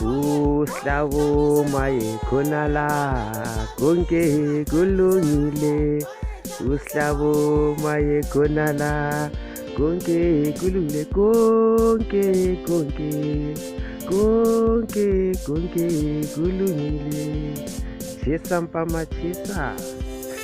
Uhlabo maye khona la konke kulungile Uhlabo maye khona la konke kulungile konke konke konke konke kulungile Chesa mpama chesa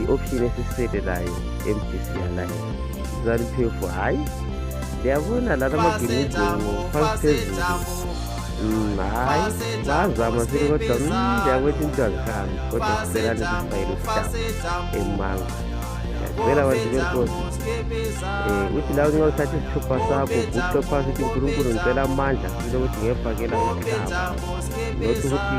i-option esisele layo mdc yalayo zaliphefu hhayi ndiyabona lana amagemizingo phansi phezulu mm, hhayi bazama sini kodwa mm, ndiyakwetha into azihambi kodwa sicelane sifayele usitaba emanga ngiyacela bantu benkosi um uthi lawo nxa uthatha isithupha sakho guqe phansi ukuthi unkulunkulu ngicela amandla sile ukuthi ngefakela umhlaba not ukuthi